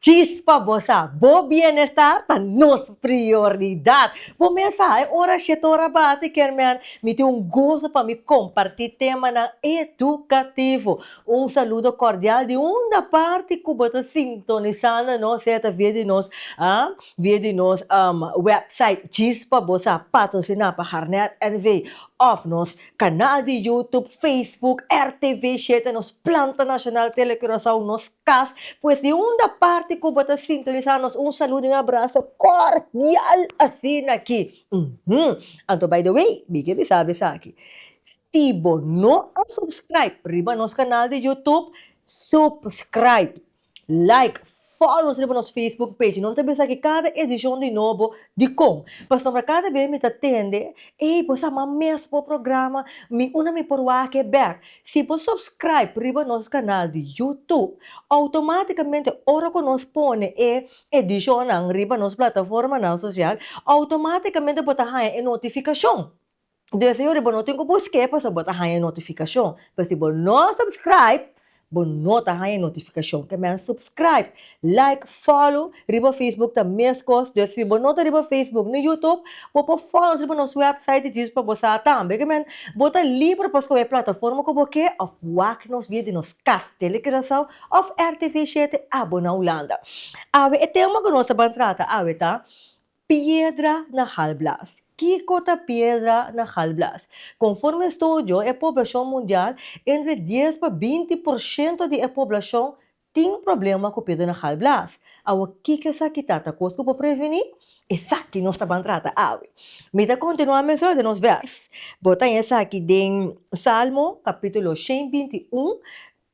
Chispa bo sa, bo bienestar ta nos prioridad. Bo mes sa, e ora shit ta ora bati, kermen. Mi tin un goso pa mi comparti temanan educativo. Un saludo cordial di unda parti cu bo ta sintonisando nos, sea ta via di nos, ah, via di nos website Chispa bo sa, patrocina pa Harnet NV of nos. Kanal di YouTube, Facebook, rtv shete nos planta nacional Tele Curaçao nos cas pues di unda parti cu bo ta sintonisa nos un saludo y un abrazo cordial asina aki uhmm anto by the way mi ke bisa bo esaki si bo no a subscribe riba nos kanal di YouTube subscribe Like, follow nos riba nos Facebook page. Nos ta bisa ki kada edicion di nobo dicon. Pasobra cada bes mi ta tende, ey, bo sa mas mes bo programa, mi una mi por wak e bek. Si bo subscribe riba nos canal di YouTube, automaticamente ora cu nos pone e edicionnan riba nos plataformanan social, automaticamente bo ta haya e notificacion. Deseo di bo no tin ku busk'é pasobra bo ta haña notifikashon. Pero si bo no supskraip, bo no ta haña notifikashon. Ke mester supskraip, laik, fòlo. Riba facebook ta mes kos. Des si bo no ta riba facebook ni yutup, bo por fòlo nos riba nos wèpsait di djis pa bo sa tambe. Ke men, bo ta liber pa skohe e plataforma ku bo ke òf wak nos via di nos kas, tele Curaçao òf rtv shete abo na Hulanda. Awe e tema ku nos ta ban trata awe ta, Piedra na halblaas. Kiko ta piedra na halblaas? Konforme estudio e poblashon mundial, entre dies pa binti por shento di e poblashon tin problema ku piedra na halblaas. Awa kiko esaki ta? Ta kos ku por previni? Esaki nos ta ban trata awe. Mi ta kontinuá menstra den nos vèrs. Bo ta haña esaki den Salmo kapítulo shen binti un,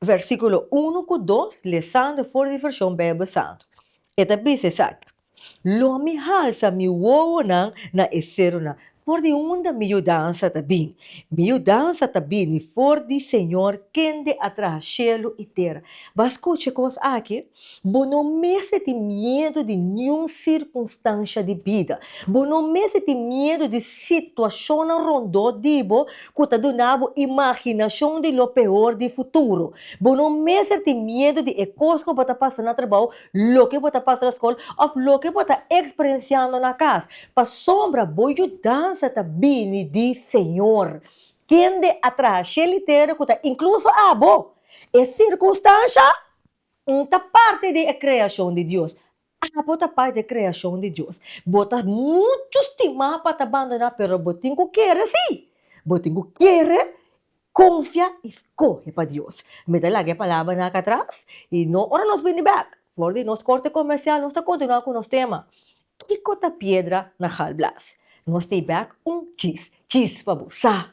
Versíkulo unu ku dos lesan den for di vershon Beibel Santu. E ta bisa esaki, Lo mi halsa mi wowonan na e serunan, for di unda mi yudansa ta bini. Mi yudansa ta bini for di Señor kende a traha shelu i tera. Bo a skucha e kos aki? Bo no mester tin miedu di niun sirkunstansha di bida. Bo no mester tin miedu di situashonnan rondó di bo ku ta duna bo imaginashon di lo peor di futuro. Bo no mester tin miedu di e kos ku bo ta pasa na trabou, loke bo ta pasa na skol òf loke bo ta eksperensiando na kas, pasobra bo yudansa ta bini di Señor, kende a traha shel i tera ku ta inkluso abo e sirkunstansha. N ta parti di e kreashon di Dios. Abo ta parti di e kreashon di Dios. Bo ta muchu stimá pa ta bandoná, pero bo tin ku kere sí. Bo tin ku kere konfia i skohe pa Dios. Mi ta laga e palabranan aki atras i no ora nos bini bèk for di nos korte komersial nos ta kontinuá ku nos tema, Kiko ta piedra na halblaas? Nos ta e bèk un chis chis pa bo sa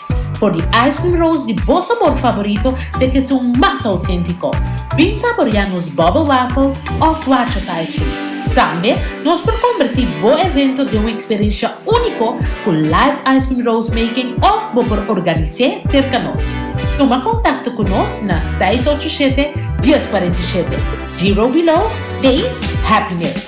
For di ice cream rolls di bo sabor favorito te ke sun mas autentico. Bin saboria nos bubble waffle of Watches ice cream. Tambe nos por converti bo evento den un experiencia unico cu live ice cream rolls making of bo por organise cerca nos. Tuma contacto cu nos na seis ocho shete, dies cuarenta y shete. Zero below, taste happiness.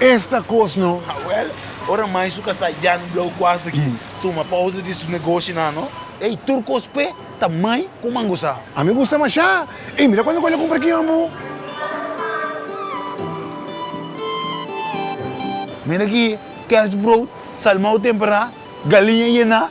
Esta cos no. Hawel, ora mai su casa Jan Blauw cuase ki tuma pausa di su negoshi nan no. Ey, tur cos pe ta mai cu mangusa. A mi gusta masha. Ey, mira cuando cu ella cumpra ki hombo. Mira ki, kerstbrood, salmao tempera, galiña yena.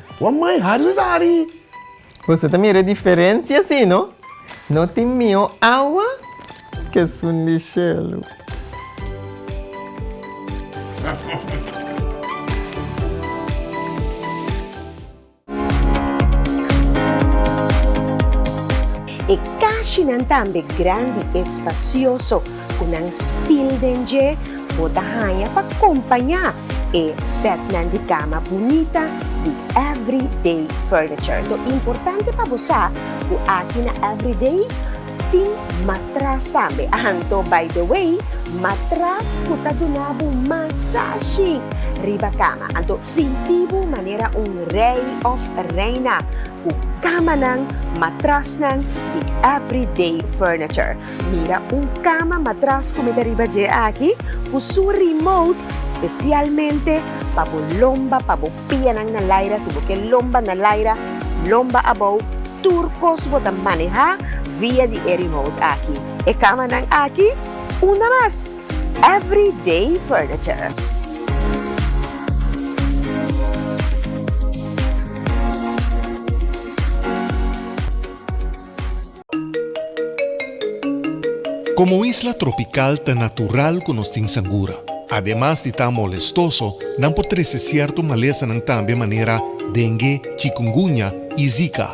Wou mai hari lo ta hari. Boso ta mira e diferencia si no? No tin mio awa ke sun di shelu. E kashinan tambe grandi, espacioso. ku nan spil den dje, bo ta haña pa kompañá e sètnan di kama bunita di Everyday Furniture. Lo importante pa bo sa ku aki na Everyday tin matras tambe. Anto by the way, matras ku ta duna bo masashi riba kama. Anto sinti bo manera un rei òf reina ku kamanan, matrasnan di Everyday Furniture. Mira un kama matras ku mi ta riba dje aki ku su remote spesialmente pa bo lomba pa bo pianan na laira si bo ke lomba na laira lomba abou tur kos bo ta maneha via di e remote aki e kamanan aki unda mas every day furniture. Komo isla tropikal ta natural ku nos tin sangura. Ademas di ta molestoso, nan por trese sierto malesanan tambe manera dengue, chikungunya i zika.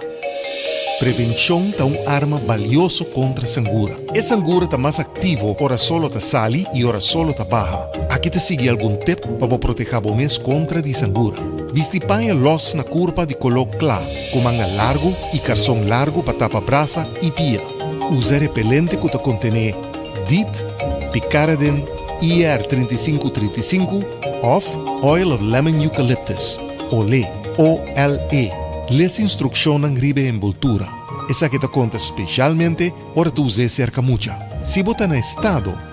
Prevenshon ta un arma balioso kontra sangura. E sangura ta mas aktivo ora sol lo ta sali i ora sol lo ta baha. Aki ta sigui algun tep pa bo protehá bo mes kontra di sangura. Bisti paña lòs na kurpa di koló kla. ku manga largu i karson largu pa tapa brasa i pia. Usa repelente ku ta kontené dit, Picaridin ER trinta i sinku trinta i sinku òf Oil of Lemon Eucalyptus, olé, OLE. Lesa instrukshonnan riba e enboltura, esaki ta konta speshalmente ora ta us'é serka mucha. Si bo ta na estado.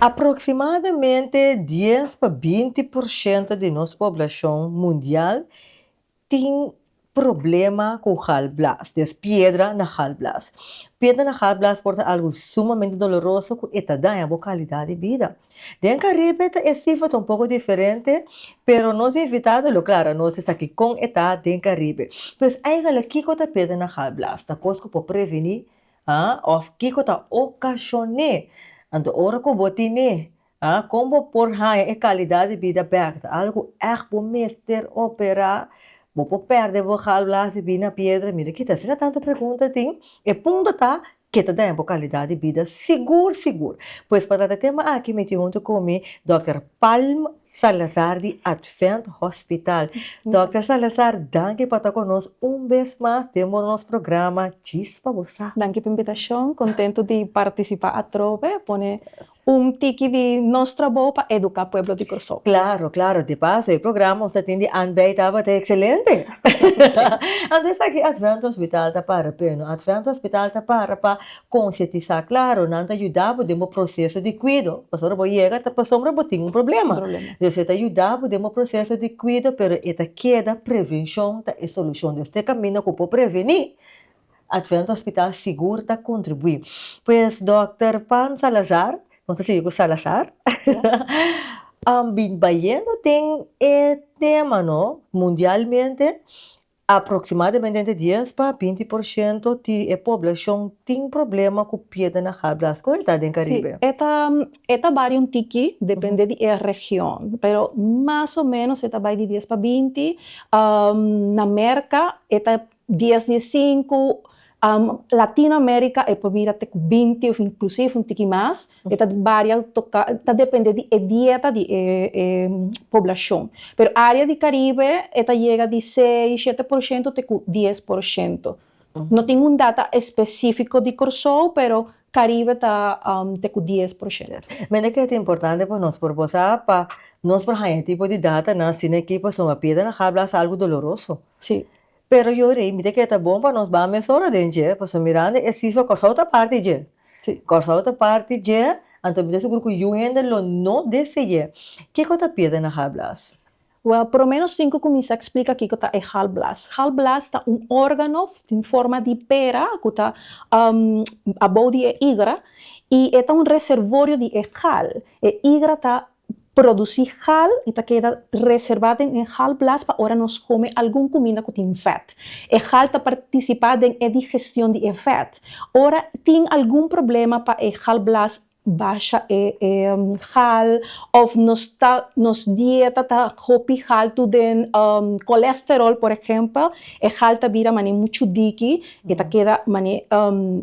Aproximadamente dies pa binti por shento di nos poblashon mundial tin problema ku galblaas, des piedra na galblaas. Piedra na galblaas por ta algu sumamente doloroso ku e ta daña bo kalidat di bida. Den Karibe ta e sifra ta un poko diferente, pero nos invitado lo klara nos esaki kon e ta den Karibe. Pues, aiga la kiko ta piedra na galblaas? Ta kos ku por previni A, Òf kiko ta okashon'é. Anto ora ku bo tin e, a, kon bo por haña e kalidat di bida bèk? Ta algu ku ègt bo mester operá? Bo por pèrdè bo galblaas i bin na piedra? Mira kita, asina tantu pregunta tin, e punto ta, Ke ta daña bo kalidat di bida sigur sigur? Pues pa trata e tema aki mi tin huntu ku mi Dòkter Palm. Salazar di Advent Hospital. Dòkter Salazar, danki pa ta ku nos un bes mas den bo nos programa Chispa Bo Sa. Danki pa invitashon. Kontentu di partisipá atrobe, pone un tiki di nos trabou pa eduká pueblo di Kòrsou. Klaro, klaro. Di paso e programa ons a tin di anbei tabata ekselente. Anto esaki Advent Hospital ta para p'e no. Advent Hospital ta para pa Konsientisá klaru nan ta yuda bo den bo proseso di kuido, pasobra ora bo yega ta pasobra bo tin un problema, entonces e ta yuda bo den bo proseso di kuido pero e ta keda prevenshon ta e solushon, entonces te kaminda ku por prevení a través di hospital sigur ta kontribuí. Pues dòkter Pan Salazar, nos ta sigui ku Salazar, bin bayendo den e tema no mundialmente. Aproximadamente entre dies pa binti por shento ti e poblashon tin problema ku piedra na habla. Sko e ta den Karibe? Si, e ta e ta baria un tiki, depende di e region, pero mas o menos e ta bai di dies pa binti. Na Merka e ta dies di e sinku. Latino America e por bira te cu binti of inclusive un tiki mas, e ta baria toca, ta depende di e dieta di e poblacion. Pero area di Caribe e ta yega di seis, shete por shento te cu dies por shento. No tin un data especifico di Corsou pero Caribe ta te cu dies por shento. Mende cu e ta importante pa nos por bosa pa nos por haña e tipo di data nan asina aki pasobra Piedra na habla algo doloroso. Pero yo rei mi ta kere ta bon pa nos ban mesora den dje pasobra mirando e sifra Kòrsou ta parti dje. Sí. Kòrsou ta parti dje, anto mi ta sugur ku yu hende lo no deseé. Kiko ta pierde na gallblaas? Wèl, por lo ménos tin ku kuminsá eksplika kiko ta e gallblaas. Gallblaas ta un órgano den forma di pera ku ta abou di e igra i e ta un reservorio di e gal. E igra ta produsí hal i ta keda reservá den e hal blas pa ora nos kome algun kuminda ku tin vèt. E hal ta partisipá den e digestion di e vèt. Ora tin algun problema pa e hal blas basha e hal òf nos ta nos dieta ta hopi haltu den kolesteròl por ehèmpel e hal ta bira manera muchu diki i ta keda manera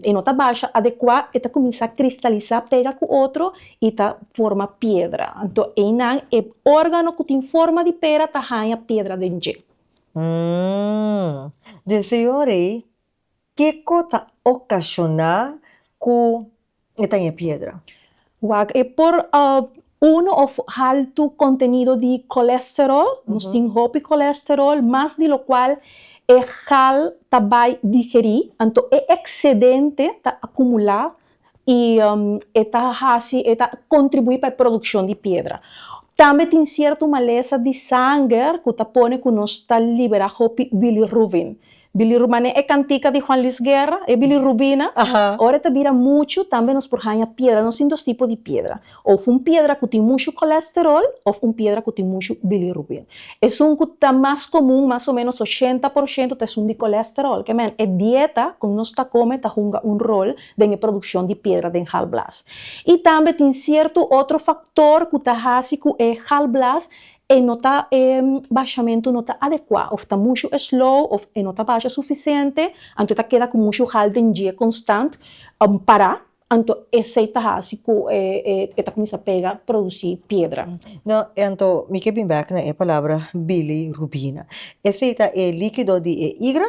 i no ta basha adekuá i ta kuminsá kristalisá pega ku otro i ta forma piedra. Anto einan e órgano ku tin forma di pera ta haña piedra den dje. Mmm. Den su yora ei, kiko ta okashoná ku e ta haña piedra? Wak, e por unu òf haltu kontenido di kolèsteròl, nos tin hopi kolèsteròl, mas di lo kual e gal ta bai digerí, anto e eksedente ta akumulá i e ta hasi, e ta kontribuí pa e produkshon di piedra. Tambe tin sierto malesa di sanger ku ta pone ku nos ta liberá hopi bilirrubin. Bilirru, manera e kantika di Juan Luis Guerra, e bilirrubina, ora e ta bira muchu tambe nos por haña piedra. Nos tin dos tipo di piedra. Of un piedra ku tin mushu kolesterol of un piedra ku tin mushu bilirubin. Esun ku ta mas komun, mas o ménos ochenta por shentu, ta esun di kolesterol. Ke men, e dieta ku nos ta kome ta hunga un rol den e produkshon di piedra den gallblaas. I tambe tin sierto otro faktor ku ta hasi ku e gallblaas e no ta e bashamentu no ta adekuá of ta mushu slow of e no ta basha sufisiente anto e ta keda ku mushu gal den dje konstant pará Anto esei ta hasi ku e ta kuminsá pega produsí piedra. No, i anto mi ke bin bèk na e palabra bilirubina. Esei ta e líkido di e igra?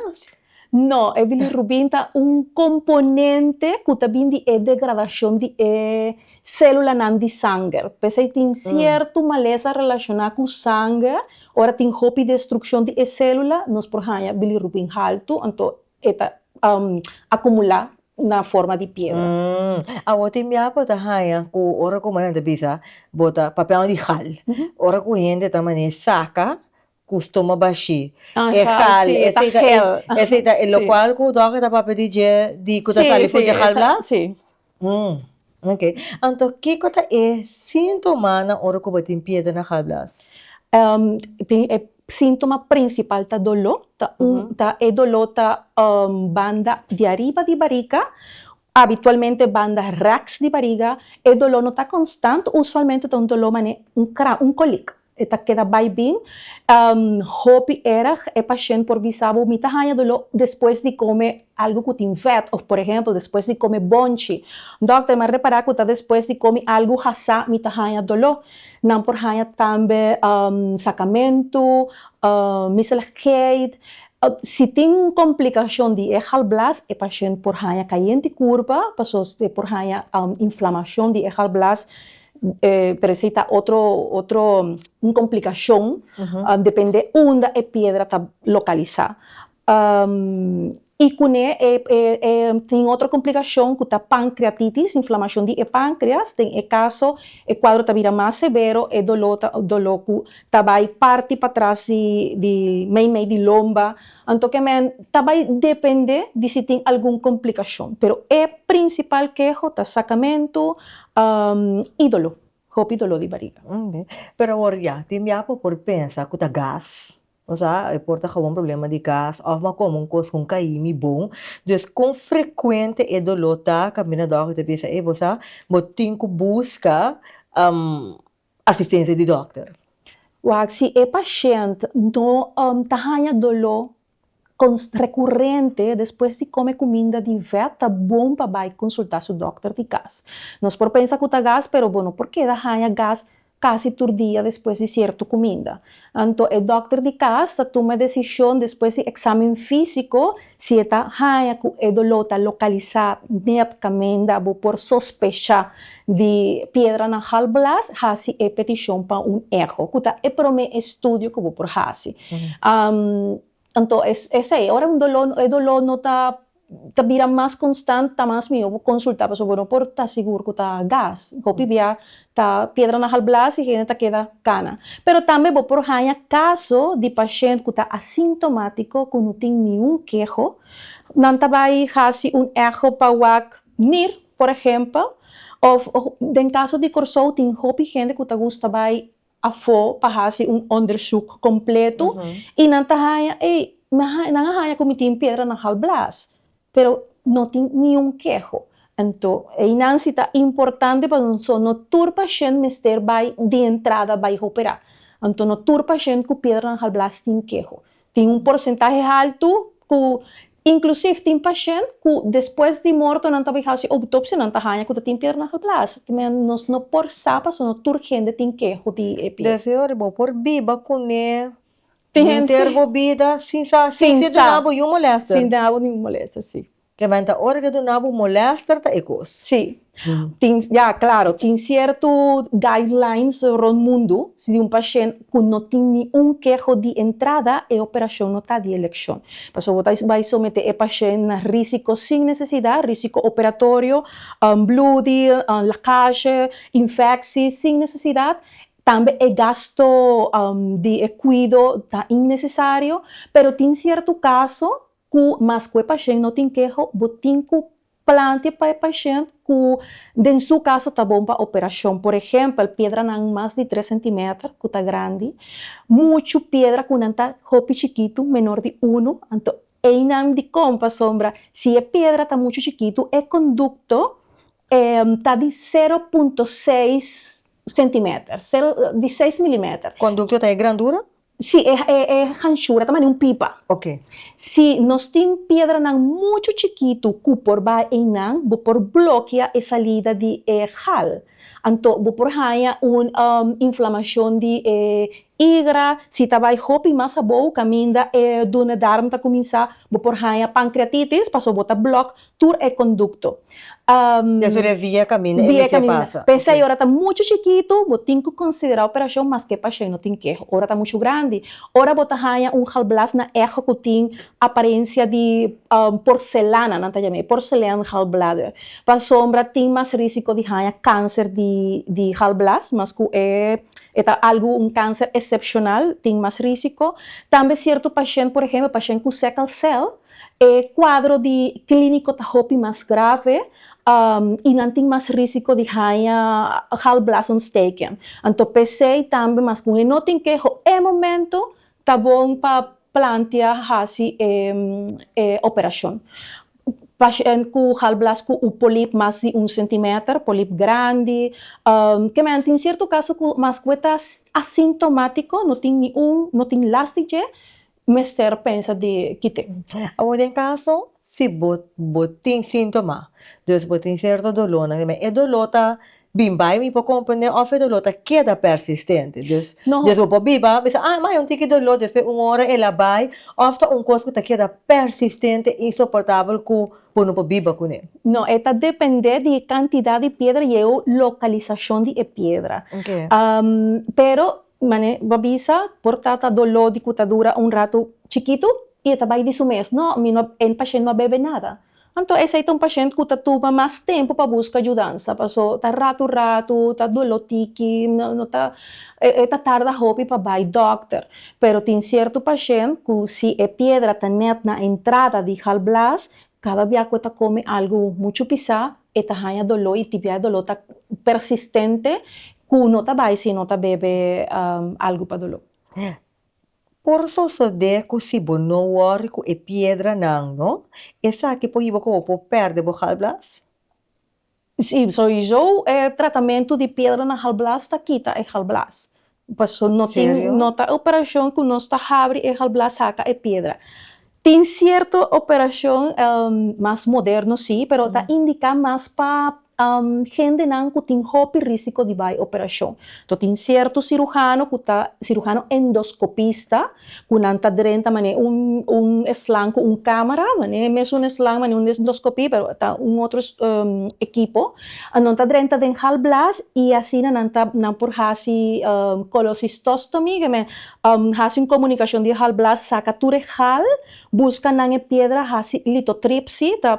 No, e bilirubina ta un komponente ku ta bin di e degradashon di e sélulanan di sanger. P'esei tin sierto malesa relashoná ku sanger. Ora tin hopi destrukshon di e sélula, nos por haña bilirubina haltu, anto e ta akumulá na forma di piedra. Awor tin bia bo ta haña ku ora ku manan ta bisa bo ta papiando di hal, ora ku hende ta mane saka ku stoma bashí e hal, esei ta e lokual ku dòkter ta papia di dje di ku ta sali for di hal blaas? Mm. Ok. Anto, kiko ta e sintomanan ora ku bo tin piedra na galblaas? Bien, e síntoma prinsipal ta doló. Ta un, ta, e doló ta banda di ariba di bariga, abitualmente banda rèks di bariga. E doló no ta konstant, usualmente ta un doló mané un kra, un kòlika. E ta keda bai bin. Hopi erg e pashent por bisa bo, Mi ta haña doló despues di kome algu ku tin vèt, òf por ehèmpel, despues di kome bònchi. Dòkter, mi a repará ku ta despues di komi algu hasá mi ta haña doló. Nan por haña tambe sakamentu, miseligheid. Si tin un komplikashon di e galblas, e pashent por haña kayente kurpa, pasobra e por haña inflamashon di e galblas. Parese ta otro otro un complicashon depende unda e piedra ta localisa. I kuné tin otro complicashon ku ta pancreatitis, inflamashon di e pancreas, den e kaso e kuadro ta bira mas severo, e dolo ta dolo ku ta bai parti patras di di meimei di lomba. Anto ke men ta bai depende di si tin algun komplikashon. Pero e prinsipal keho ta sakamentu i dolo, hopi dolo di bariga. Pero awor ya, tin bia ku por pensa ku ta gas, osea e por ta gawon problema di gas òf m'a kome un kos ku kaí mi bon. Dus kon frekuente e dolo ta? Kaminda dòkter ta bisa, ey bo sa, bo tin ku buska asistensia di dòkter. Wak si e pashènt no ta haña doló rekurente despues di kome kuminda di vèt, ta bon pa bai konsultá su dòkter di kas. Nos por pensa ku ta gas, pero bo no por keda haña gas kasi tur dia despues di sierto kuminda. Anto e dòkter di kas ta tuma desishon despues di eksamen físiko si e ta haña ku e doló ta lokalisá nèt kamenda bo por sospechá di piedra na gallbladder, hasi e petishon pa un echo, ku ta e promé estudio ku bo por hasi. Anto es esei, ora un doló, e doló no ta ta bira mas konstant ta mas mihó bo konsultá pasobra bo no por ta sigur ku ta gas, hopi bia ta piedra na halblas i hende ta keda kana. Pero tambe bo por haña kaso di pashent ku ta asintomátiko ku no tin niun keho, nan ta bai hasi un echo pa wak Mir, por ehèmpel, òf den kaso di Kòrsou tin hopi hende ku ta gusta bai afo pa hasi un onderzoek kompletu i nan ta haña ei, nan a haña ku mi tin piedra na hal blas, pero no tin niun keho. Anto einan si ta importante pasobra no tur pashènt mester bai di entrada bai hoperá. Anto no tur pashènt ku piedra na hal blas tin keho. Tin un porsentahe haltu ku inklusiv tin pashènt ku despues di morto nan ta bai hasi outopsia nan ta haña ku ta tin piedra na halblaas. Manera nos no por sa pasobra no tur hende tin keho di e piedra. Des di ora bo por biba kuné bo henter bo bida sin sa sin si duna bo yu molèster. Sin duna bo ningun molèster, sí. Kebben ta ora ke duna bu molester ta e kos. Sí, tin ya claro tin cierto guidelines rond mundo si di un pashent cu no tin ni un keho di entrada e operacion no ta di eleccion. Paso bo ta bay somete e pashent na risico sin necesidad, risico operatorio, bloody, lacage, infecci sin necesidad, tambe e gasto di e cuido ta innecesario pero tin cierto caso Cu mas cu e pashent no tin keho, bo tin cu plante pa e pashent cu den su caso ta bon pa operacion. Por ehempel, piedranan mas di tres centimeter cu ta grandi, muchu piedra cu nan ta hopi chikitu, menor di uno, anto eynan dicon pasobra si e piedra ta muchu chikitu e conducto ta di sero punto seis centimeter, di seis milimeter. Conducto ta e grandura Si, e hanshura ta mane un pipa. Ok. Si nos tin piedranan muchu chikitu ku por bai einan, bo por blokia e salida di e gal. Anto bo por haña un inflamashon di e igra. Si ta bai hopi mas abou kaminda e duodendarm ta kuminsá, bo por haña pankriatitis pasobra bo ta blòk tur e kondukto. Des tur e via kaminda e mester pasa. P'esei ora ta muchu chikitu bo tin ku konsiderá operashon maske pa shei no tin keho. Ora ta muchu grandi, ora bo ta haña un galblaas na echo ku tin aparensia di porselana, nan ta yam'é porcelain gallbladder, pasobra tin mas rísiko di haña kanser di galblaas, mas ku e ta algu un kanser esepshonal tin mas rísiko. Tambe sierto pashènt, por ehempel pashènt ku sèkkel sèl, E kuadro di klíniko ta hopi mas grave i nan tin mas rísiko di haña galblasontsteken. Anto p'esei tambe mas ku e no tin keho e momentu ta bon pa plantea hasi e operashon. Pashènt ku galblas ku un polip mas di un sentimeter, polip grandi, kemen tin sierto kaso ku mas ku e ta asintomátiko, no tin niun, no tin lasti dje, mester pensa di kite? Awor den kaso si bo bo tin síntoma, dus bo tin sierto dolónan, me e doló ta bin bai mi por komprendé òf e doló ta keda persistente, dus dus bo por biba bisa ah ma yon tiki doló despues un ora el a bai òf ta un kos ku ta keda persistente, insoportabel ku bo no por biba kuné? No, e ta dependé di e kantidat di piedra i e lokalisashon di e piedra, pero. Mane, bo a bisa por tata doló di ku ta dura un ratu chikitu? I e ta bai di su mes, No, mi no, e pashent no a bebe nada. Anto esei ta un pashent ku ta tuma mas tempu pa buska yudansa, paso ta ratu ratu, ta doló tiki, no, no ta, e ta tarda hopi pa bai dòkter. Pero tin sierto pashent ku si e piedra ta nèt na entrada di gallblaas, Kada bia ku e ta kome algu muchu pisá, e ta haña doló i tibia e doló ta persistente ku no ta bai si e no ta bebe algu pa doló. Por sosodé ku si bo no wòri ku e piedranan, no, esaki por yiba ku bo por pèrdè bo gallblaas. Si, soizo e tratamentu di piedra na halblas ta kita e halblas. Paso no tin, no ta operashon ku nos ta habri e halblas haka e piedra. Tin sierto operashon mas moderno si, pero ta indiká mas pa hendenan ku tin hopi risiko di bai operashon. Tin sierto sirujano ku ta sirujano endoskopista. ku nan ta drenta manera un eslan ku un kamera, manera e mesun eslan, manera un endoskopia pero ta un otro ekipo, a nan ta drenta den halblaas i asina nan ta nan por hasi kolosistostomy ke men hasi un komunikashon di e halblaas saka tur e hal buska nan e piedra hasi litotripsy ta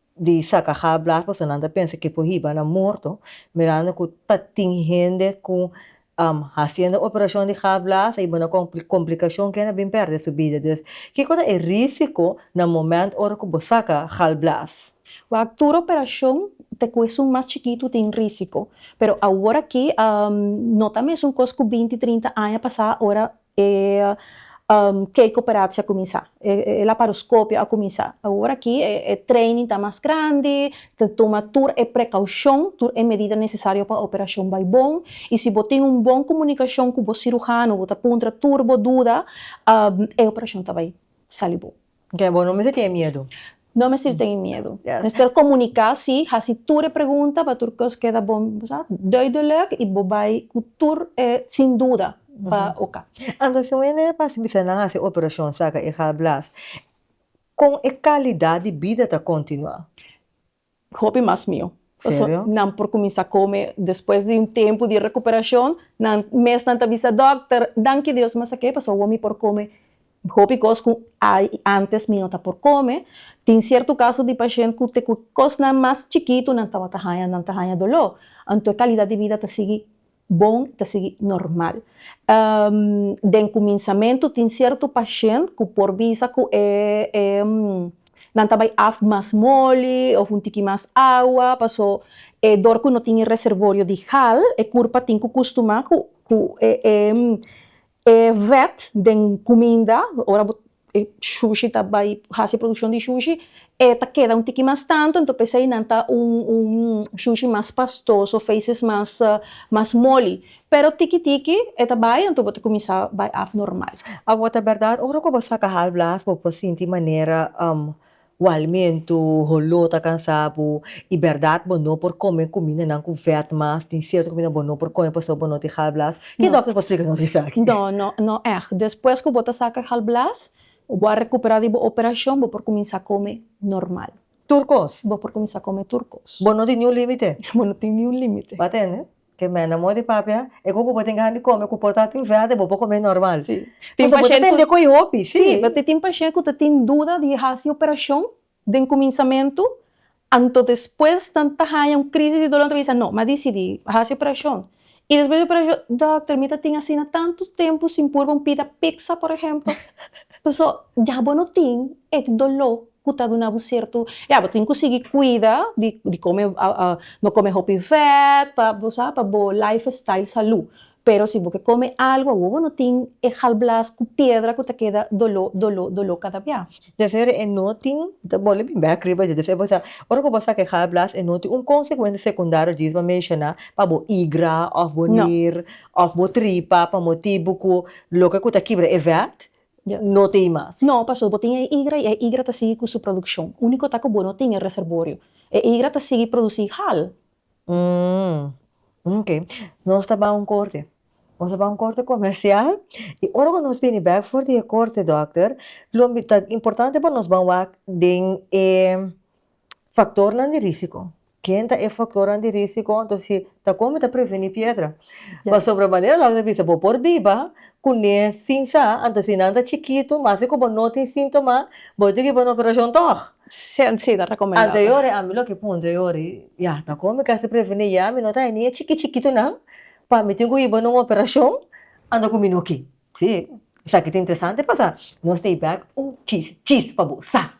di saca hablar pasobra nan ta pensa que por hiba na morto mirando cu ta tin hende cu haciendo operacion di hablar a hiba na complicacion kenda bin perde su bida dus kico ta e risico na momento ora cu bo saca galblaas? Wak tur operacion ta cu esun mas chikitu tin risico pero awor aki no ta mesun cos cu binti trinta aña pasa ora E kei koperatsi a kuminsá. E laparoskopio a kuminsá. Awor aki e training ta mas grandi, ta tuma tur e prekoushon, tur e medida nesesario pa operashon bai bon. I si bo tin un bon komunikashon ku bo sirujano, bo ta puntra tur bo duda, e operashon ta bai sali bon. Oke, bo no mester tene miedu. No mester tene miedu. Yes. Mester komuniká sí, hasi tur e pregunta pa tur kos keda bo sa, duidelek i bo bai ku tur e sin duda pa oka. Anto si un hende pasa bisa nan hasi operashon saka e galblaas, kon e kalidat di bida ta kontinuá? Hopi mas miu. Pasobra Serio? nan por kuminsá kome despues di un tempu di rekuperashon. Nan mes nan ta bisa dòkter, Danki Dios, mester ke pasobra awor mi por kome hopi kos ku antes mi no ta por kome. Tin sierto kaso di pashent ku te ku kosnan mas chikitu nan tabata haña, nan ta haña doló. Anto e kalidat di bida ta sigui Bon ta sigui normal. Den kuminsamentu tin sierto pashent ku por bisa ku e nan ta bai af mas moli òf un tiki mas awa paso e dor ku no tin e reservorio di hal e kurpa tin ku kustumá ku E vet den cuminda, ora bo e shushi ta bai haci produccion di shushi e ta keda un tiki mas tanto ento p'esei nan ta un un shushi mas pastoso of aces mas mas moli pero tiki tiki e ta bai anto bo ta cuminsa bai af normal. Awor ta berdad ora cu bo saca hal blas bo por sinti manera Walmento, holó ta cansá bo i berdad bo no por come cumindanan cu vet mas. Tin cierto cuminda bo no por come pasobra bo no tin galblaas. Ke No. dokter por splica nos esaki? No, no, no èg. Despues ku bo ta saka galblaas o bo a rekuperá di bo operashon, bo por kuminsá kome normal. Tur kos? Bo por kuminsá kome tur kos. Bo no tin niun límite? Bo no tin niun límite. Bo a tende? Ke mena amor di papia e koko bo tin ganan di kome ku porta tin verde bo por kome normal pasobra bo ta tende ku e hopi si pasobra tin pashent ku ta tin duda di hasi operashon den kuminsamentu anto despues nan ta haña un krisis di dolor nan ta bisa no mi a disidi hasi operashon i despues di operashon dòkter mi ta tin asina tantu tempu sin purba un pida piksa por ehempel pasobra ya bo no tin e doló ku ta duna bo sierto ya bo tin ku sigui kuida di kome no kome hopi vèt pa bo sa pa bo life style salú pero si bo ke kome algu awor bo no tin e galblaas ku piedra ku ta keda doló doló doló kada bia. Désir e no tin ta bole bin bèk riba dje désir bo sa ora ku bo saka e galblaas e no tin un konsekuensia sekundario dje dje bo a menshoná pa bo igra òf bo nir òf bo tripa pa motibu ku loke ku ta kibra e vèt no te i mas. No, pastor, bo tin e igra i e igra ta sigui cu su produccion. Unico ta cu bo no tin e reservorio. E igra ta sigui produci hal. Umm. Ok. Nos ta ban un corte. Nos ta ban un corte comercial i ora cu nos bini bek for di e corte, dokter, lo mi ta importante pa nos ban wak den e Faktornan di risiko, ken ta e faktornan di risiko anto si ta kon mi ta preveni piedra? Pasobra manera dokter ta bisa bo por biba kuné sin sa anto si nan ta chikitu mas ku bo no tin síntoma bo ta toki bana operashon tòg. Si ta rekomendá. Anto e ora ami loke puntra e ora ya ta kon mi kasi preveni ya mi no ta ni e chiki chikitunan pa mi tin ku iba na un operashon anto ku mi no ke. Si esaki ta interesante pasá nos ta bai un chis chis pa bo sa.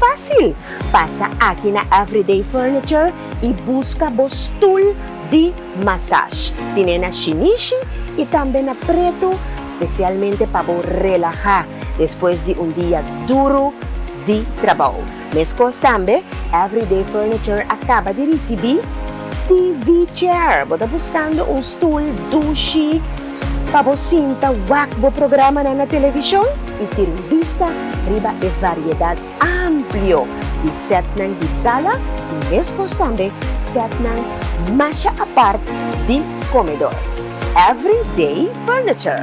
Fásil! Pasa aki na Everyday Furniture i buska bo stul di masaj. Tin'é na Shinichi i tambe na Pretu spesialmente pa bo relahá despues di un dia duru di trabou. Meskos tambe, Everyday Furniture a kaba di risibí TV Chair. Bo ta buskando un stul dushi? Pa bo sinta wak bo programanan na televishon i tira un bista riba e variedat amplio di setnan di sala i meskos tambe setnan masha apart di komedor. Everyday Furniture.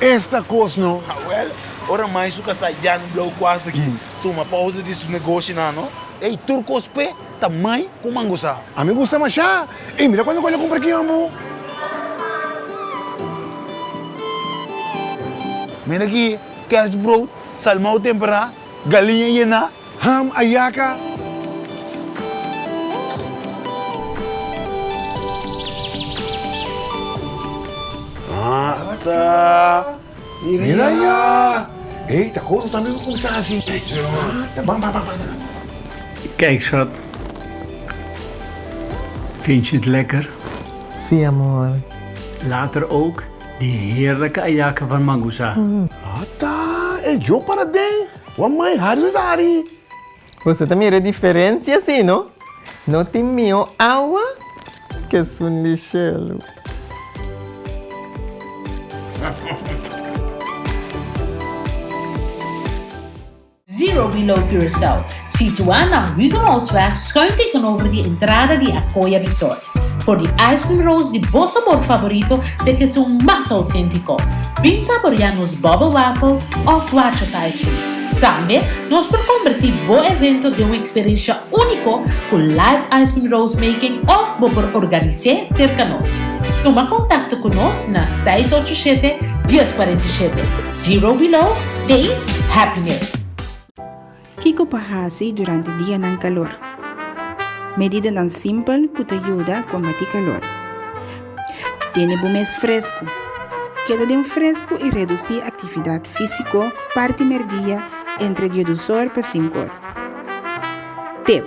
Esta cos no. Hawel, ora mai su casa ya no blauw cuase ki tuma pausa di su negoshi nan no. Ey tur cos pe ta mai cu mangosa. A mi gusta masha. Ey mira cuando cual yo cumpra ki ambo. Mira ki kerstbrood. Salmou temperá, galiña yená, ham a yaka. Ata, mira ya! Ey, ta koto tambe pa kumsa así. Ata, ban, ban, ban, ban. Kijkshot, Vindt je het lekker? Sí, amor. Later ook. Di heerlijke ayake van Mangusa. Ata e djo para den wan mai hari la dari. Boso ta mira e diferencia si no? No tin mihó awa ke esun di shelu. Zero Below Curaçao, situá na Huguenotsweg schuin tegenover di entrada di Acoya Resort. For di ice cream rolls di bo sabor favorito te cu esun mas autentico. Bin saborea nos bubble waffle of Watches ice cream. Tambe nos por converti bo evento den un experiencia unico cu live ice cream rolls making of bo por organise cerca nos. Tuma contacto cu nos na seis ocho siete, dies cuarenta y siete. Zero below days happiness. Kiko pa hasi durante dianan kalor? Medidanan simpel ku ta yuda kombatí kalor. Tene bo mes fresku. Keda den fresku i redusí aktividat físiko parti merdia entre die dus or pa sinku or. Tep,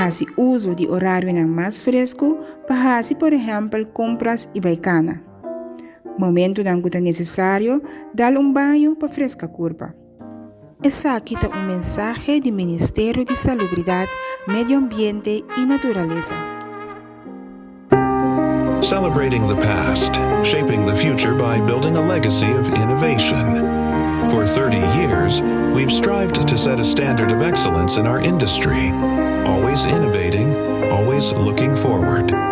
Hasi uso di orarionan mas fresku pa hasi por ehèmpel kompras i bai kana. Momentunan ku ta nesesario dal un baño pa freska kurpa. Esaki ta un mensahe di Ministerio di Salubridat, Medio Ambiente i Naturalesa. Celebrating the past, shaping the future by building a legacy of innovation. For thirty years, we've strived to set a standard of excellence in our industry, always innovating, always looking forward.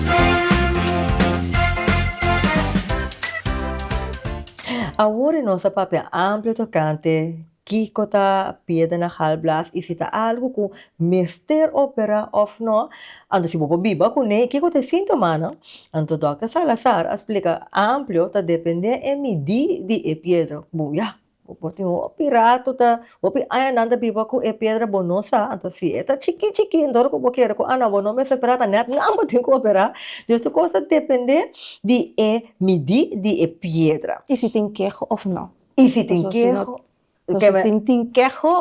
Awor e nos a papia amplio tocante kico ta piedra na galblaas y si ta algo cu mester opera of no. Anto si bo por biba cu ne y kico ta e sintomanan? Anto Dòkter Salazar a splica amplio ta depende e midi di e piedra cu bo ya. Por tin hopi ratu ta hopi añanan ta biba ku e piedra bo no sa anto si e ta chikí chikí enton ora ku bo kere ku ana bo no mes operá ta nèt nan bo tin ku operá dus tu kos ta dependé di e midí di e piedra. I si tin keho òf nò? I si tin keho? Si tin keho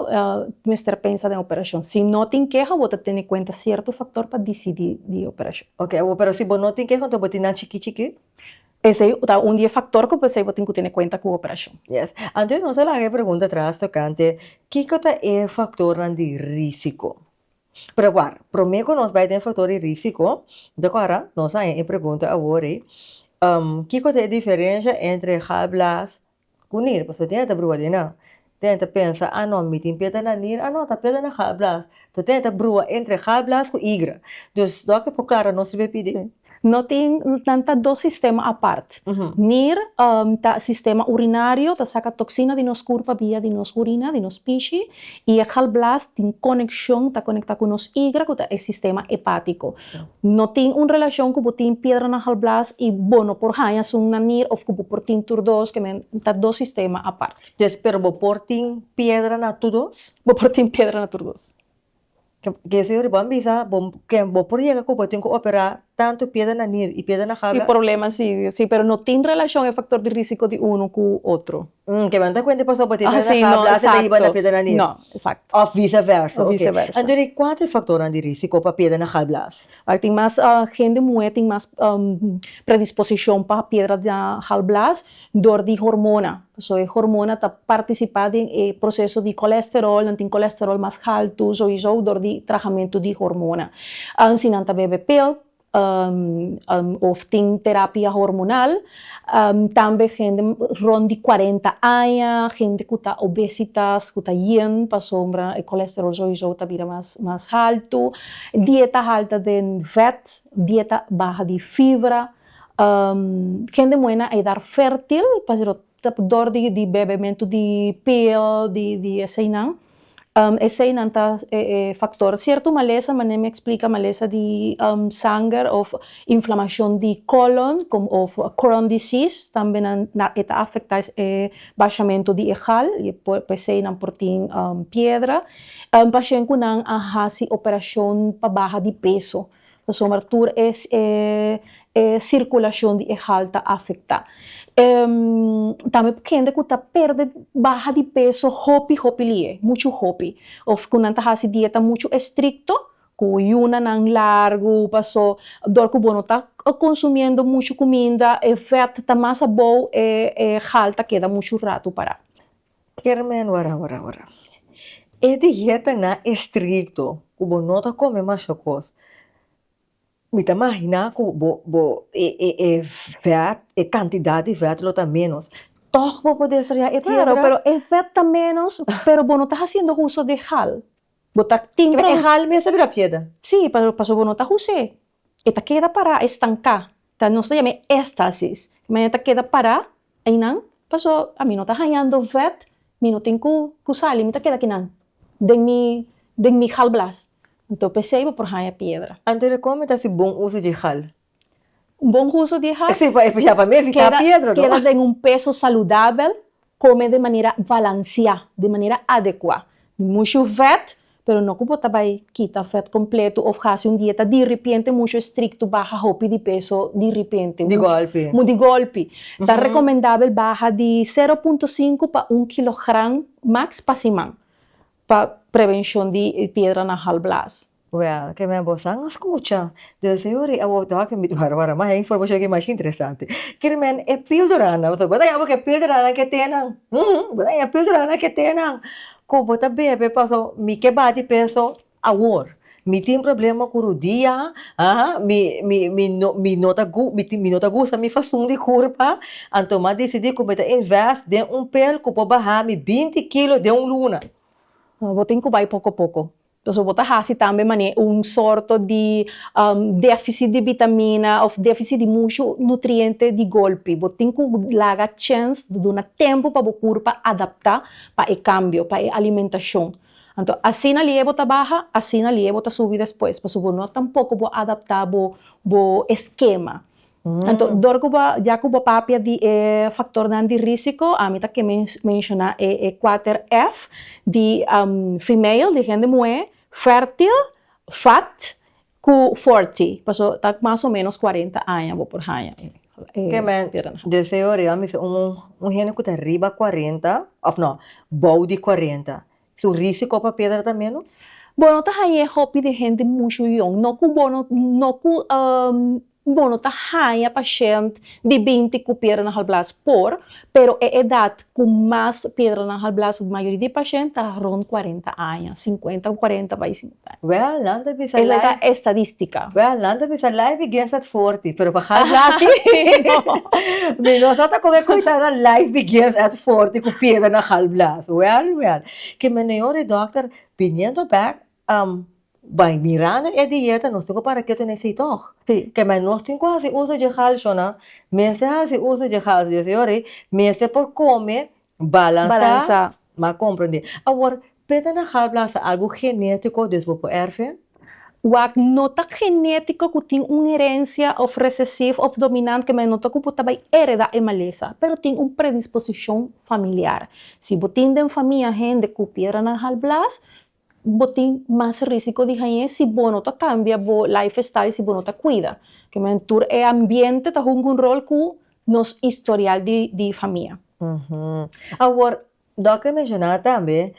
mester pensa den operashon si no tin keho bo ta tene kuenta sierto faktor pa disidí di operashon. Oke operashon si bo no tin keho anto bo tin nan chikí chikí? Esei ta un di e faktor ku p'esei bo tin ku tene kuenta ku operashon. Yes. Anto nos a laga e pregunta atras tokante kiko ta e faktornan di risiko. Pero a wak, promé ku nos bai den faktor di risiko, bo ta kòrda, nos a haña e pregunta awor ei, kiko ta e diferensha entre galblaas Ku nir, pasobra tin e ta brua di nan. Tin e ta pensa, a no, mi tin peda na nir, a no, ta peda na Gaal Blaas. So tin e ta brua entre Gaal Blaas ku Igra. Dus do aki por klara nos riba e pidi. No tin, nan ta dos sistema apart. Nir ta sistema urinario, ta saka toksina di nos kurpa via di nos urina, di nos pishi, i e Gaal Blaas tin konekshon, ta konektá ku nos Igra ku ta e sistema hepátiko. No tin un relacion cu bo tin piedra na halblaas y bo no por haña sun na nier of cu bo por tin tur dos, que men ta dos sistema apart. Yes, pero bo por tin piedra na tur dos? Bo por tin piedra na tur dos. Yes, señor, y bo a bisa bo que bo por yega cu bo tin cu opera tanto piedra na nier y piedra na halblaas? Y problema si, si, pero no tin relacion e factor di risico di uno cu otro. Hm, ke manta kuente pasobra bo tin mera na habla hasta ta hiba na piedra na niu. No, exacto. Of vice versa, ok. Vice versa. Anto di kua ta e faktornan di risiko pa piedra na galblaas? Oke, tin mas hende muhé tin mas predisposishon pa piedra na galblaas dor di hormona. Pasobra e hormona ta partisipá den e proseso di kolesterol, nan tin kolesterol mas haltu souiso dor di trahamentu di hormona. Si nan ta bebe pel, of tin terapia hormonal, tambe hende rond di cuarenta aña, hende cu ta obesitas, cu ta yen pasobra e colesterol soyisou ta bira mas mas haltu, dieta halta den vet, dieta baha di fibra, hende muhé na edar fertil, dor di bebementu di pil di eseinan eseinan ta e faktor sierto malesa manera mi a eksplika malesa di sanger òf inflamashon di kòlon òf kròn disis tambe nan e ta afektá e bashamentu di e gal i e eseinan por tin piedra pashén ku nan a hasi operashon pa baha di peso. pasobra tur e e sirkulashon di e hal ta afektá. tambe ku hende ku ta pèrdè baha di peso hopi hopi lihe, muchu hopi, òf ku nan ta hasi dieta muchu estrikto, ku yunanan largu, pasó dor ku bo no ta konsumiendo muchu kuminda e vèt ta mas abou e e hal ta keda muchu ratu pará. Kier men wara wara wara. E dieta nan estricto cu bo no ta come masha cos mi ta magina cu bo bo e e e vet e cantidad di vet lo ta menos toch bo por desarrolla e piedra? Claro pero e vet ta menos pero bo no ta haciendo huso di hal bo ta tin produ. Kibe e hal mes ta bira piedra? Si pasobra bo no ta huse e ta keda pará, e stanká, ta nos ta yam'é éstasis, di manera ta keda pará, einan pasó ami no ta hañando vèt, mi no tin ku ku sali, mi ta keda kinan den mi den mi galblaas, anto p'esei bo por haña piedra. Anto di kon mi ta hasi bon uso di e gal? Un bon uso di e gal? Si, pa ya pa mi e fika piedra no. Keda den un peso saludabel, Kome de manera balansiá, de manera adekuá. Di mushu vèt, pero no ku bo ta bai kita vèt kompletu òf hasi un dieta diripiente mushu estrikto, baha hopi di peso diripiente. Di gòlpi. Mu di gòlpi. Ta rekomendabel baha di sero punto sinku pa un kilogram maks pa siman. pa prevencion di e piedra na hal blaas. Well, ke mei bo san a scucha? Duna señor ri awor dòk e wara wara mas e informacion ke mas interesante. Kere men e pildoranan, pasobra bo ta yama ku e pildoranan ke te nan. Uum, bo ta yama e pildoranan ke te nan ku bo ta bebe paso mi ke bati penso awor. Mi tin problema ku rudia, aa mi mi mi no mi no ta gu mi mi no ta gusta mi fason di kurpa, anto mi a desidí ku mi ta invest den un pil ku por baha mi binti kilo den un luna. Bo tin ku bai poko poko. Entonces bo ta hasi tambe manera un sorto di déficit di vitamina òf déficit di mushu nutriente di golpe. Bo tin ku laga chèns, duna tempu pa bo kurpa adaptá pa e kambio, pa e alimentacion. Anto asina lié bo ta baha, asina lié bo ta subi despues, pasobra no tampoko bo a adaptá bo bo eskema. Anto dor ku bo a, ya ku bo a papia di e faktornan di risiko, ami ta ke menshoná e e kuater F di female, di hende muhé, fèrtil, fat, Ku Forti, paso ta mas o menos cuarenta aña bo por haña e teren. Deseo riba mi se un hende ku ta riba cuarenta of no, bou di cuarenta. Su risiko pa pedra ta menos? Bo no ta haña e hopi di hende mushu yòn, no ku bo no ku Bo no ta haña pashènt di binti ku piedra na halblas por, pero e edat ku mas piedra na halblas for mayoria di pashènt ta rond kuarenta aña, sinkuenta ku kuarenta bai sinkuenta aña. Wèl nan ta bisa life. Esei ta estadístika. Wèl nan ta bisa life i guess at forty, pero pa halblas di mi no sa ta kon e koitanan life di guess at forty ku piedra na halblas. Wèl wèl. Ke meneor e dòkter biniendo bèk Am bai mira na e dieta nos tin cu para keto na esey toch? Si. Ke mai nos tin cu haci uso dje halsho na mester haci uso dje halsho dje señor ey mester por come balansa. Balansa. M'a comprende. Awor peta na galblasa algo genetico dus bo por erfe? Wak no ta genetico cu tin un herencia of recessive of dominant ke mai no ta cu bo ta bai hereda e malesa pero tin un predisposicion familiar. Si bo tin den famia hende cu piedra na galblas Bo tin mas risiko di hañ'é si bo no ta kambia bo lifestyle, si bo no ta kuida. Kem'en tur e ambiente ta hunga un rol ku nos historial di di famia. Awor, dòkter a menshoná tambe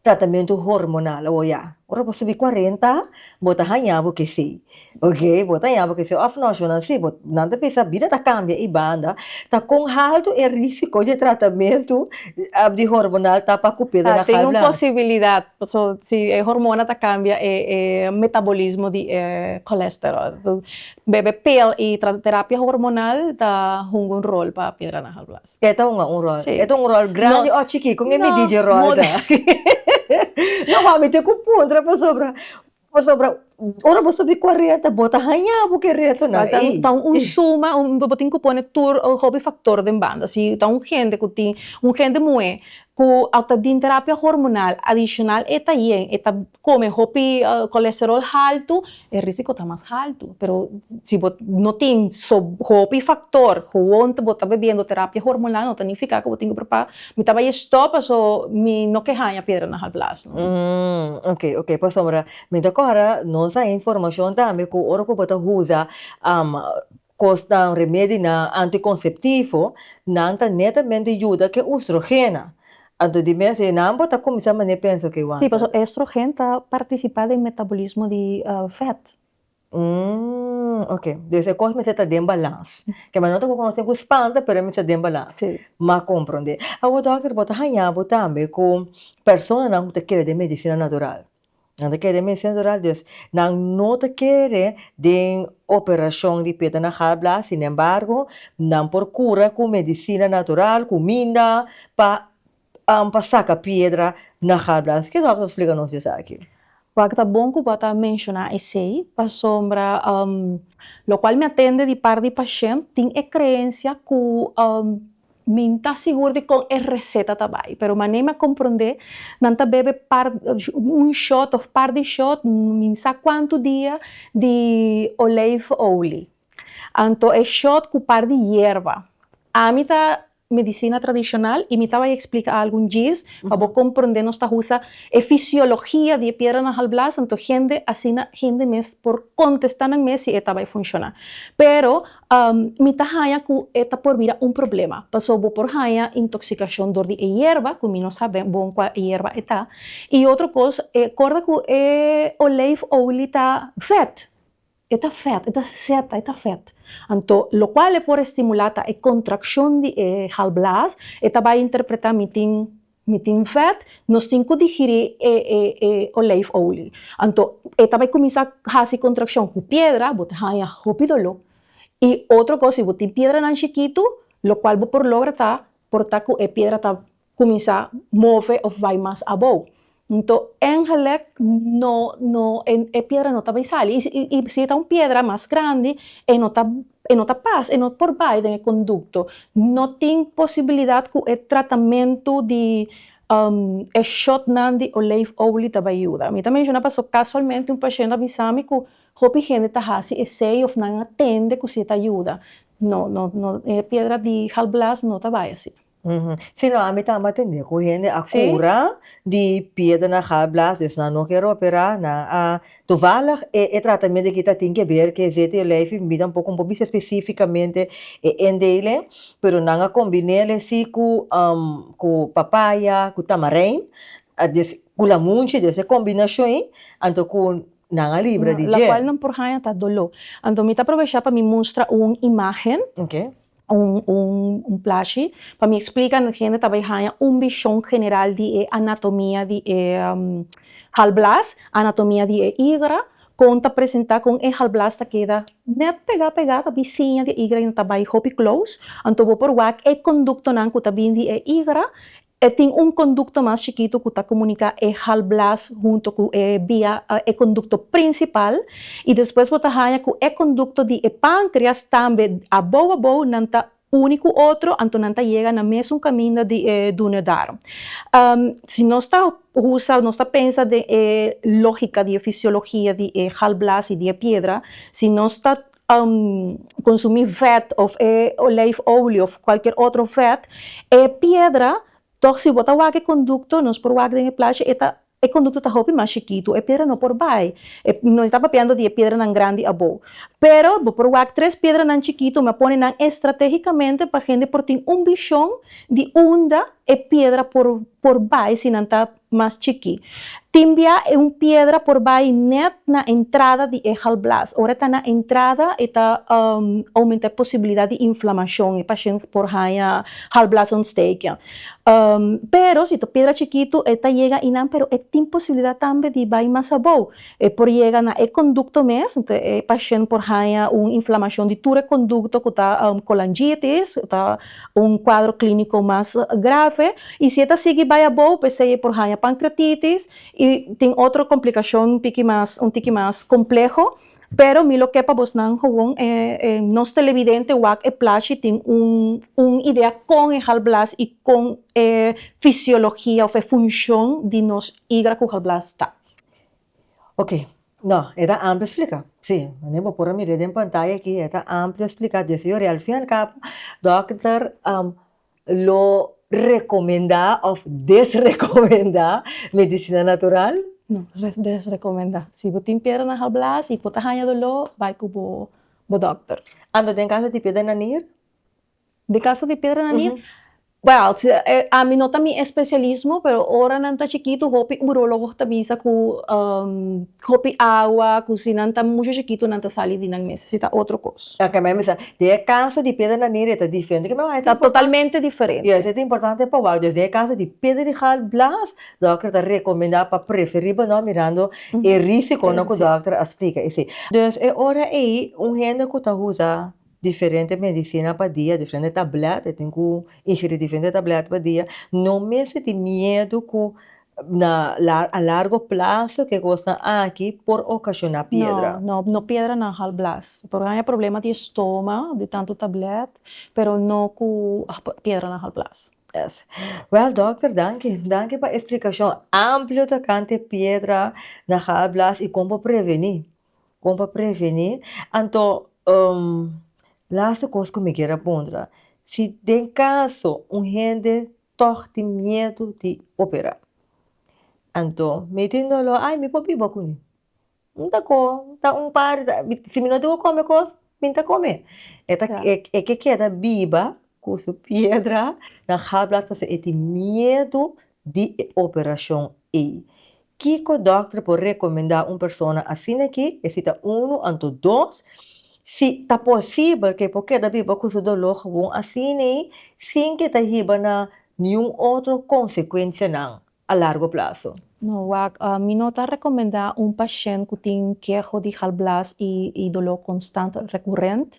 tratamentu hormonal. Awor ya, ora bo subi kuarenta bo ta haña bo kesei. Oke, bo ta yama ku esei òf noshonnan? Sí, bo, nan ta pensa bida ta kambia i banda, ta kon haltu e risiko di e tratamentu di hormonal ta pa kup'é den Ahalblans? Tin un posibilidat, paso si e hormona ta kambia e e metabolismo di e kolesterol. So, bebe pil i trata terapia hormonal ta hunga un rol pa piedra na ahalblans. E ta hunga un rol? Sí. E ta hunga un rol grandi òf chikí? Kon e midí dje rol ta? No, wak mi tin ku puntra pasobra. Pasobra ora bo sabi kua reta bo ta haña bo ke retonan ey. Bai ta un suma, bo tin ku pone tur hopi faktor den banda. Si ta un hende ku tin, un hende muhé ku a ta di terapia hormonal, adishonal e ta yen, e ta kome hopi kolesterol haltu, e risiko ta mas haltu. Pero si bo no tin hopi faktor, huwont bo ta bebiendo terapia hormonal no ta nifiká ku bo tin ku preocupa. Mi ta bai e stop paso mi no ke haña piedra na hal plas no. Umm ok ok pasobra mi ta kora nos haña informashon tambe ku ora ku bo ta usa kosnan remedinan antikonceptivo nan ta netamente yuda ke ustrogena anto di mes e nan bo ta kuminsá mané pensa ok wak. Sí paso e estrogen ta partisipá den metabolismo di vèt Umm ok dus e kos mester ta den balans ke manera ku nos tin ku spanta pero mester ta den balans ma komprondé awo dòkter bo ta haña bo tambe ku personanan ku ta kere den medisina natural nan ta kere den medisina natural dus nan no ta kere den operashon di peta na galblaas sin embargo nan por kura ku medisina natural kuminda pa pa saka piedra na Harbrans. Ke dòkter ta splika nos di esaki? Wak ta bon ku bo a ta menshoná esei, pasobra lokual mi a tende di par di pashènt tin e kreensia ku mi no ta sigur di kon e reseta ta bai. Pero mané mi a komprondé, nan ta bebe par un shòt òf par di shòt min sa kuantu dia di olijfolie. Anto e shòt ku par di yerba. Ami ta medisina tradishonal i mi ta bai eksplika algun djis pa bo komprondé. Nos ta usa e fisiologia di e piedra na halblaas, anto hende asina hende mes por kontestá nan mes si e ta bai funshoná. Pero mi ta haña ku e ta por bira un problema pasobra bo por haña intoksikashon dor di e yerba ku mi no sa bon kua yerba e ta. I otro kos, e korda ku e olijfolie ta vèt, E ta fèt, e ta seta, e ta fèt. Anto, lokual e por estimulá ta e kontrakshon di e halblaas, e ta bai interpretá mi tin, mi tin fèt, nos tin ku digirí e e e olijfolie. Anto, e ta bai kuminsá hasi kontrakshon ku piedra, bo ta haña hopi doló. I otro kos, si bo tin piedranan shikitu, lokual bo por logra ta portá ku e piedra ta kuminsá move òf bai mas abou. Nto èngelek no no e e piedra no ta bai sali i si i si e ta un piedra mas grandi e no ta e no ta pas e no por bai den e kondukto no tin posibilidat ku e tratamentu di e shòtnan di olijfolie ta bai yuda mi ta menshoná pasobra kasualmente un pashent a bisa mi ku hopi hende ta hasi esei òf nan a tende ku si e ta yuda no no no e piedra di galblaas no ta bai asina. Uhumm. Si no ami ta matende cu hende a cura di piedra na galblaas dus nan no ker opera nan a toevallig e e tratamento aki ta tin ke ber ke ct yo lei fi mida un poco bo bisa specificamente e endele pero nan a combinele si cu umm cu papaya cu tamarind dus cu lamunchi dus e combinacion ayi anto cu nan a libra di dje. Lacual nan por haya ta dolo anto mi ta aprovesha pa mi mustra un imagen. Oke. un plashi pa mi explica no hende ta bay haya un vision general di e anatomia di e galblaas, anatomia di e igra, con ta presenta con e galblaas ta keda net pega pega ta bin siña di e igra y no ta bay hopi close, anto bo por wak e conductonan cu ta bin di e igra E tin un kondukto mas chikitu ku ta komuniká e halblaas hunto ku e bia, e kondukto prinsipal, i despues bo ta haña ku e kondukto di e pánkrias tambe abou abou nan ta uni ku otro, anto nan ta yega na mesun kaminda di e duodendarom. Si nos ta usa, nos ta pensa den e lógika di e fisiologia di e halblaas i di e piedra, si nos ta konsumí vèt òf e olèifolio òf kualkier otro vèt, e piedra tòg si bo ta wak e kondukto, nos por wak den e plasha e ta e kondukto ta hopi mas chikitu, e piedra no por bai no estabba hablando di e piedranan grandi abou pero bo por wak tres piedranan chikitu m'a pone nan estrategicamente pa hende por tin un bishon di unda e piedra por por bai si nan ta mas chikí. Tin bia e un piedra por bai nèt na entrada di e galblaas. Ora e ta na entrada e ta oumentá e posibilidat di inflamashon, e pashènt por haña galblaasontsteking. Pero si ta un piedra chikitu e ta yega ahí nan pero e tin posibilidat tambe di bai mas abou. E por yega na e kondukto mes, e pashènt por haña un inflamashon di tur e kondukto ku ta kolanjitis, ku ta Un kuadro klíniko mas grave i si e ta sigui bai abou p'esei e por haña pankreatitis i tin otro komplikashon un tiki mas un tiki mas kompleho, pero mi lo ke pa bosnan gewoon nos televidente wak e plashi tin un un idea kon e halblaas i kon e fisiologia òf e funshon di nos igra ku halblaas ta. Oke, no, e ta amplio splika. Sí, manera bo por a mira den pantaya aki, e ta amplio splika. Di asina yori, al fin y al cabo, dòkter lo rekomendá òf desrekomendá medisina natural? No, desrekomendá. Si bo tin piedra na halblaas i bo ta haña doló, bai ku bo dòkter. Ando den kaso di piedra na nier? De caso di piedra na nieve, well, ami no ta mi especialismo, pero ora nan ta chikitu hopi urologo ta bisa ku hopi awa, ku si nan ta mushu chikitu nan ta sali di nan mes, si ta otro kos. Ok, ma e mester sa, den e caso di piedra na nieve e ta diferente riba water? Ta totalmente diferente. Yes, e ta importante pa wak. Dus den e caso di piedra di gal blas, dòkter ta recomenda pa preferí bo nò mirando e risiconan ku dòkter a splika esei. Dus e ora ei un hende ku ta usa. Diferente medicina pa dia, diferente tablet, e tin cu ingiri diferente tablet pa dia, no mester tin miedo cu na a largo plazo ki e cosnan aki por ocasiona piedra. No, no, no piedra na hal blas, por haya problema di estoma di tanto tablet, pero no cu piedra na hal blas. Yes. Well dokter danki, danki pa e explicacion amplio tocante piedra na hal blas y con por preveni. Kon pa prevení, anto lasta kos ku mi ker a puntra, si den kaso un hende tòg tin miedu di operá, anto mi tin doló ai mi por biba kuné, N ta ko ta un par si mi no tin ku kome kos mi ta kome e ta e ke keda biba ku su piedra na habla pasobra e tin miedu di e operacion ei. Kico dokter por recomenda un persona asina aki, e si ta uno anto dos, si ta posibel ke por keda biba cu su dolor gewoon asinei sin ke ta hiba na niun otro consecuencianan a largo plazo. No wak, mi no ta recomenda un pashent cu tin keho di galblaas y dolor constant recurrent.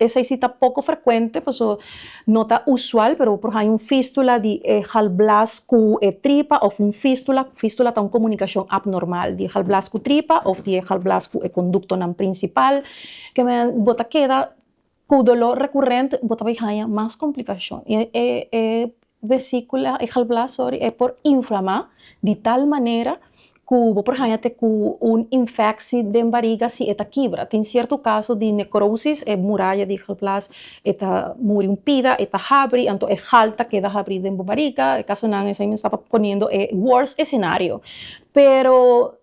Esei si ta poko frekuente, paso no ta usual, pero bo por haña un fístula di e galblas ku e tripa òf un fístula, fístula ta un komunikashon apnormal di e galblas ku tripa òf di e galblas ku e konduktonan prinsipal, ke men bo ta keda ku doló rekurent, bo ta bai haña mas komplikashon. vesíkula, e galblaas, sorry, e por inflamá di tal manera ku bo por haña te ku un infeksi den bariga si e ta kibra. Tin sierto kaso di nekrosis, e muraya di galblaas e ta muri un pida, e ta habri, anto e gal ta keda habrí den bo bariga. E kasonan esei mi staba poniendo e worst escenario. Pero,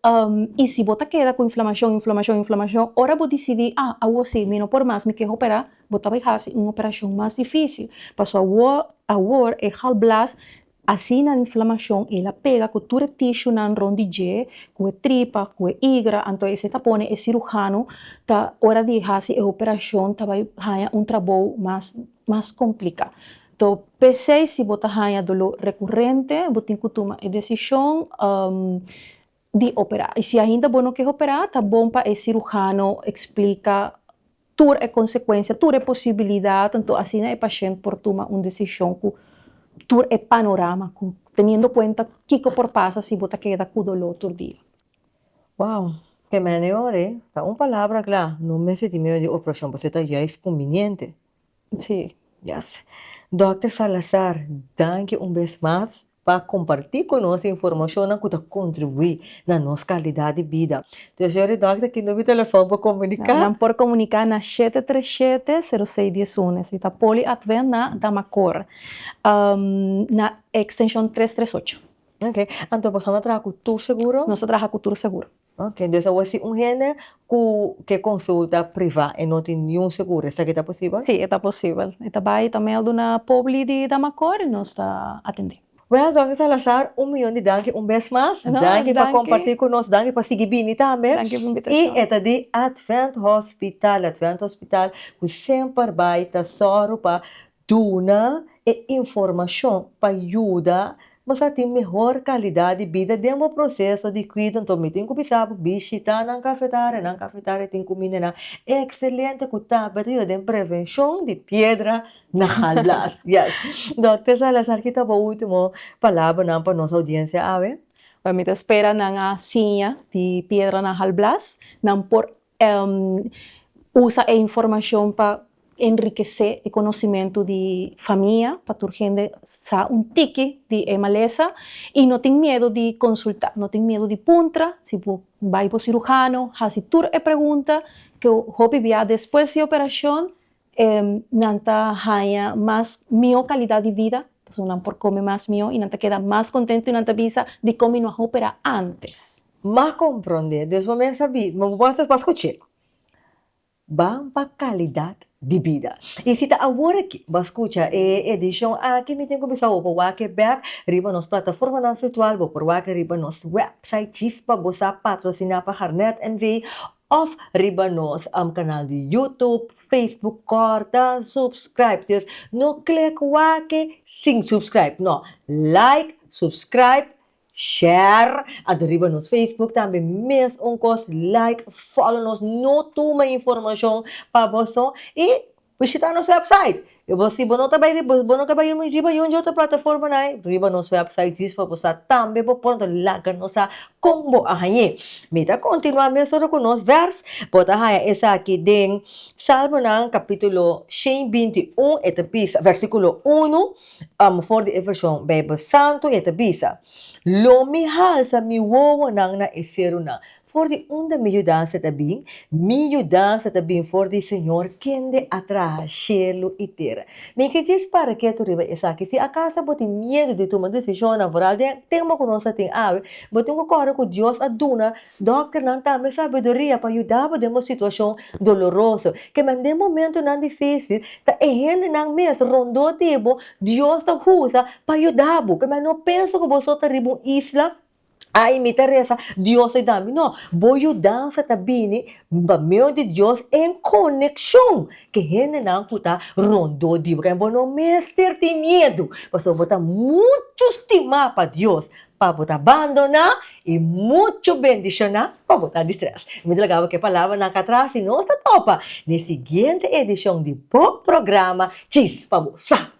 i si bo ta keda ku inflamashon, inflamashon, inflamashon, ora bo disidí, ah, awor sí, mi no por mas, mi ke hoperá. Bo ta bay hasi un operacion mas dificil, pasobra awor, awor e galblaas asina di inflamacion el a pega cu tur e tishunan rond di dje, cu e tripa, cu e igra, anto esey ta pone e cirujano ta ora di hasi e operacion ta bay haya un trabou mas, mas complica. To pesey si bo ta haya dolor recurente bo tin cu tuma e decision. di operá. I si ainda bo no ke operá, ta bon pa e sirujano eksplika tur e konsekuensia, tur e posibilidat, anto asina e pashènt por tuma un desishon ku tur e panorama, ku teniendo kuenta kiko por pasa si bo ta keda ku doló tur dia. Wow! Kemene ora e ta un palabra kla, no mester tin miedo di operashon, pasobra ta juist kumbiniente. Sí. Yes. Dòkter Salazar, danki un bes mas pa kompartí ku nos e informashonnan ku ta kontribuí na nos kalidat di bida. Nos señor di dòkter ki numero di telefòn pa komuniká? Nan por komuniká na shete tres shete, seru seis dies un. Esei ta Poly Advent na Damacor, na e ekstenshon tres tres ocho. Ok. Anto boso no a traha ku tur seguro? Nos ta traha ku tur seguro. Oke, dus awor si un hende ku ke konsulta privá e no tin niun seguro, esaki ta posibel? Sí, e ta posibel. E ta bai, e ta mèldu na Pobli di Damacor i nos ta atendé. Wèl, Dòkter Salazar, un miyon di danki un bes mas. No, danki. Danki pa kompartí ku nos, danki pa sigui bini tambe. Danki pa inbitashon. I e ta di Advent Hospital, Advent Hospital ku semper bai ta sòru pa. Duna e informashon pa yuda nos a tin mehor kalidat di bida den bo proseso di kuido. Anto mi tin ku bisa bo bishitá nan kafetari, nan kafetari tin kumindanan ekselente ku ta bata yuda den prevenshon di piedra na halas. Yes. Dòkter Salazar kita bo ultimo palabranan pa nos oudiensia awe? Bèn, mi ta spera nan a siña di piedra na halblas, nan por Usa e informashon pa enrikesé e konosimentu di famia, pa tur hende sa un tiki di e malesa, i no tin miedu di konsultá, no tin miedu di puntra, si bo bai bo siruhano, hasi tur e pregunta, ku hopi bia despues di operashon nan ta haña mas mihó kalidat di bida, pasobra nan por kome mas mihó i nan ta keda mas kontentu i nan ta bisa dikon mi no a hoperá ántes. M'a komprondé, dus bo mester bi, bo mester pa skuch'é. Ban pa kalidat di bida. I si ta awor akí bo a skucha e edishon akí, mi tin ku bisa bo por wak'é bèk riba nos plataformanan firtual, bo por wak'é riba nos wèpsait, Chispa, bo sa patrosiná pa Harnett NV Of riba nos canal di YouTube, Facebook corta subscribe dus no click wake sin subscribe no like subscribe share anto riba nos Facebook tambe mes un cos like follow nos no tuma informacion pa boso y Bishita nos website. Si bo no ta bai riba, bo no ta bai riba un di otro plataforma nai, riba nos website djis pa bo sa tambe bo por anto laga nos sa kon bo a hañ'é. Mi ta kontinuá mes ora ku nos vèrs. Bo ta haña esaki den Salmonan kapítulo shen binti un, e ta bisa, vèrsikulo unu, for di e vershon Beibel Santu, e ta bisa, Lo mi halsa mi wowonan na e serunan, For di unda mi yudansa ta bin? Mi yudansa ta bin for di Señor, kende a traha shelu i tera. Mi ke dje spara ketu riba esaki. Si akaso bo tin miedu di tuma desishonnan foral den tempu ku nos a tin awe, bo tin ku kore ku Dios a duna dòkternan tambe sabiduria pa yuda bo den bo situashon doloroso. Kem'é den momentunan difísil, ta e hendenan mes rondó di bo Dios ta usa pa yuda bo. Kem'é no pensa ku bo so ta riba un isla ai mi ta resa dios lo dami no bo yudansa ta bini pa medio di dios en coneccion cu hendenan cu ta rondo di bo kende bo no mester tin miedo pasobra bo ta mucho stima pa dios pa bo ta bandona y mucho bendiciona pa bo ta di stress mi ta lagaba ke palabranan aca atras y nos ta topa n'e siguiente edicion di bo programa Chis pa bo sa.